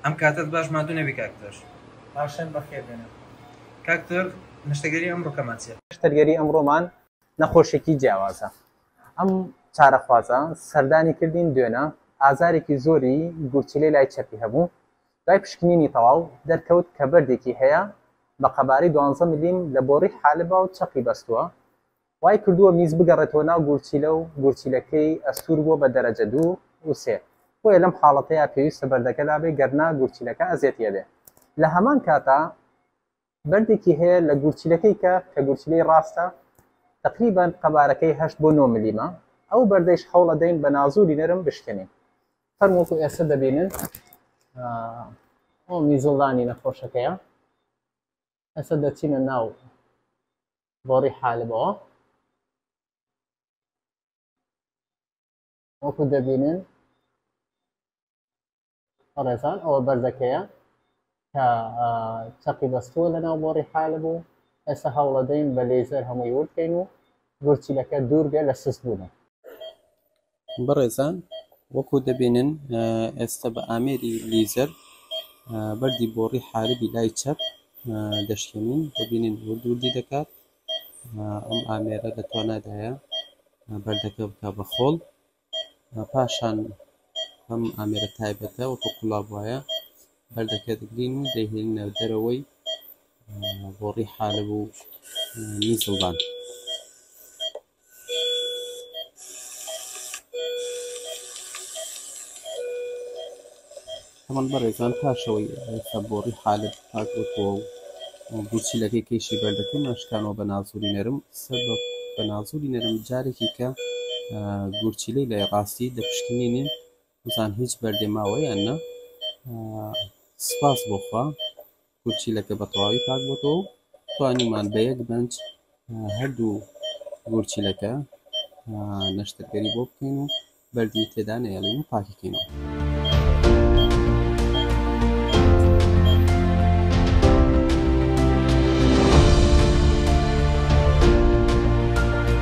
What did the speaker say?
ئەم کاتەت باش ماندوو نەبی کاک تۆر. پاشان بەخێر بێنە کاک تۆر. نەشتەرگەری ئەمڕۆکەمان چیە؟ نەشتەرگەری ئەمڕۆمان نەخۆشێکی جیاوازە. ئەم چارەخوازە سەردانی کردین دوێنە ئازارێکی زۆری گورچیلەی لای چەپی هەبوو، دوای پشکنینی تەواو دەرکەوت کە بەردێکی هەیە بە قەبارەی دوانزە ملیم لە بۆڕی حالبا و چەقی بەستووە وای کردووە میز بگەڕێتەوە ناو گورچیلە و گورچیلەکەی ئەستوور بووە بە دەرەجە دوو و سێ بۆیە لەم حاڵەتەیا پێویستە بەردەکە لابێ گەرنا گورچیلەکە ئەزیەتی ئەبێ لە هەمان کاتا بەردێکی هەیە لە گورچیلەکەی کە کە گورچیلەی ڕاستە تقریبان قەبارەکەی هەشت بۆ نۆ ملیمە ئەو بەردەیش هەوڵە دەین بە نازوری نەرم بشکێنین فەرموەکو ئێستا دەبینن ئەو میزڵدانی نەخۆشەکەیە ئەسە دەچینە ناو بۆڕی حالمەوە وەکو دەبینن ڕێزان ئەوە بەردەکەیە کە چەقی بەستووە لە ناو بۆڕی حالە بوو ئێستا هەوڵەدەین بە لێزەر هەمووی وردکەین و گورچیلەکە دوور بێ لە سست بوونە بەڕێزان وەکو دەبینن ئێستە بە ئامێری لیزەر بەردی بۆڕی حاربی لای چەپ دەشکێنین دەبینین ورد وردی دەکات ئەم ئامێرە لە توانادایە بەردەکە بکە بە خۆڵ پاشان ئەم ئامێرە تایبەتە وەکو قوڵاب وایە بەردەکە دەگرین و دەهێنە دەرەوەی بۆڕی حالب و نیزڵبان هەمەڵ بەڕێزان پاشەوەی ئێستا بۆڕی حالب پاک بۆتەوە و بچی لەکەی کەیشی بەردەکەی ناشکانەوە بە نازوری نەرم سەر بە نازوری نەرم جارێکی کە گورچیلەی لای ڕاستی دەپشکنینین بزان هیچ بەردێ ماوە یان نا سپاس بۆ خوا گورچیلەکە بە تەواوی پاک بۆتەوە و توانیمان بە یەک بەنج هەردوو گورچیلەکە نەشتەرگەری بۆ بکەین و بەردی تێدا نەیەڵین و پاکیکەینەوە